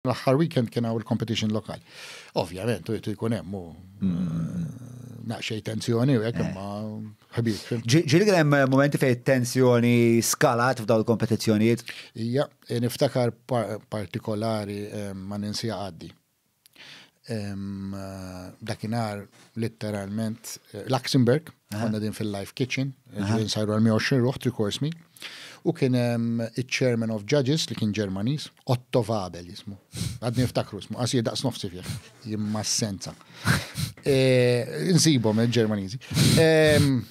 L-aħħar weekend kien hawn il-competition lokali. Ovvjament, u jtu jkun hemm u naqxej tensjoni u hekk imma ħbib. Ġieli kien hemm momenti fejn tensjoni skalat f'dawn il-kompetizzjonijiet? Ija, niftakar partikolari ma ninsija għaddi. Dakinhar litteralment Luxembourg Għanna din fil-live kitchen, ġivin sajru għal 120 ruħ, tri course meal. U kien il-chairman of judges li kien Ġermanis, Otto Vabel jismu. Għadni niftakru jismu, għasir daqs nofsi fih, jimma senza. E, Nsibom il-Ġermanizi. E,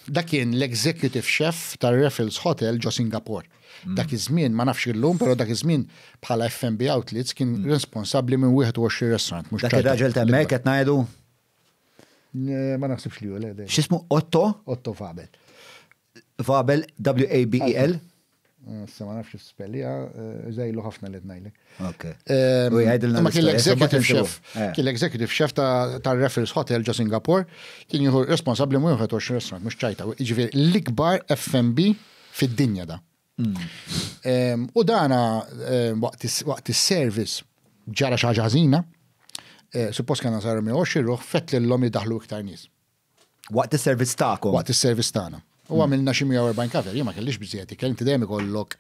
da kien l-executive chef tar Raffles Hotel ġo Singapore. Mm. Dak iż-żmien, ma nafx illum, però dak iż-żmien bħala FMB Outlets kien mm. responsabbli minn 21 restaurant. Dak ir-raġel temmek qed ngħidu? Ma naħsibx li hu le. X'ismu Otto? Otto Vabel. Vabel, W-A-B-E-L? Eh, se ma nafx spellija, eh, zajlu ħafna li tnajli. Ok. Eh, u jgħidilna. Ma kien l-executive chef. Kien l-executive chef ta' Raffles Hotel ġo Singapore, kien jieħu responsabli mu jħet 20 restaurant, mux ċajta. Ġifieri l-ikbar FMB fid-dinja da. Mm. U dana waqt is-service ġara xi ħaġa ħażina, eh, suppost kena sar mi xirruħ fett l-lom jidaħlu iktar nies. Waqt is-servizz tagħkom. Waqt is-servizz tagħna. U għamilna xi 140 kaver, jien ma kellix biżjed, kien inti dejjem ikollok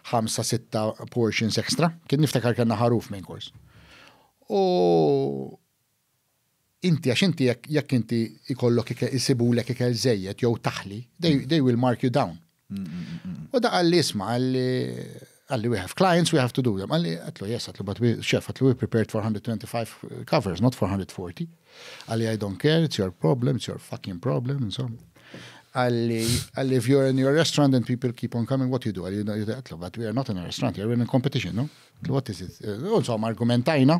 5-6 portions extra, kien niftakar kellna ħaruf minn kors. U inti għax inti jekk jekk inti jkollok ikel isibulek ikel żejjed jew taħli, they they will mark you down. U da qalli isma' qalli qalli we have clients we have to do them. Qalli għatlu yes għatlu but we chef għatlu we prepared for 125 covers not for 140. Qalli I don't care it's your problem it's your fucking problem insomma. Qalli qalli if you're in your restaurant and people keep on coming what you do? Qalli għatlu but we are not in a restaurant we are in a competition no? What is it? Insomma argumentajna.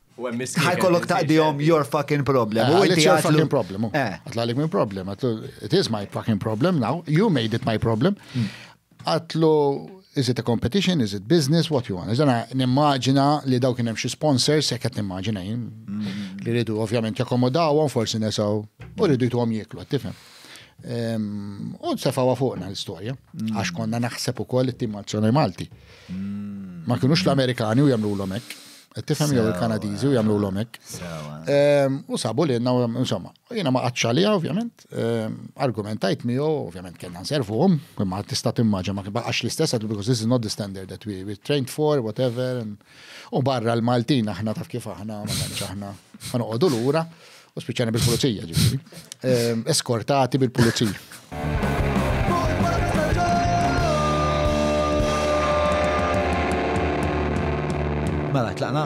Ħaj kollok taqdihom your fucking problem. Eh, it's your fucking problem. Eh. Għatlalik minn problem. It is my fucking problem now. You made it my problem. Hmm. Għatlu, is it a competition, is it business, what you want. Iżana, nimmaġina li daw kienem xie sponsors, jek għet nimmaġina jim, hmm. li rridu ovvjament jakomodawom, forsi nesaw, u rridu jtu għom jiklu, għattifem. Ehm, u t-sefawa fuqna l-istoria, hmm. għax konna naħseb u koll it-tim Malti. Ma kienux l-Amerikani u jamlu l-omek. Tifhem jew il-Kanadiżi u jagħmlulhom hekk. Ehm, u sabu li jenna, insomma, jiena ma qattx għalija ovvjament, ehm, argumentajt miegħu, ovvjament kellna nservuhom, imma tista' timmaġa ma baqax l-istess għadu because this is not the standard that we, we trained for, whatever, u barra l-Maltin aħna taf kif aħna, ma tantx aħna, ma noqogħdu lura. U spiċċani bil-pulizija ġifieri. Ehm, eskortati bil-pulizija. Mela, tlaqna?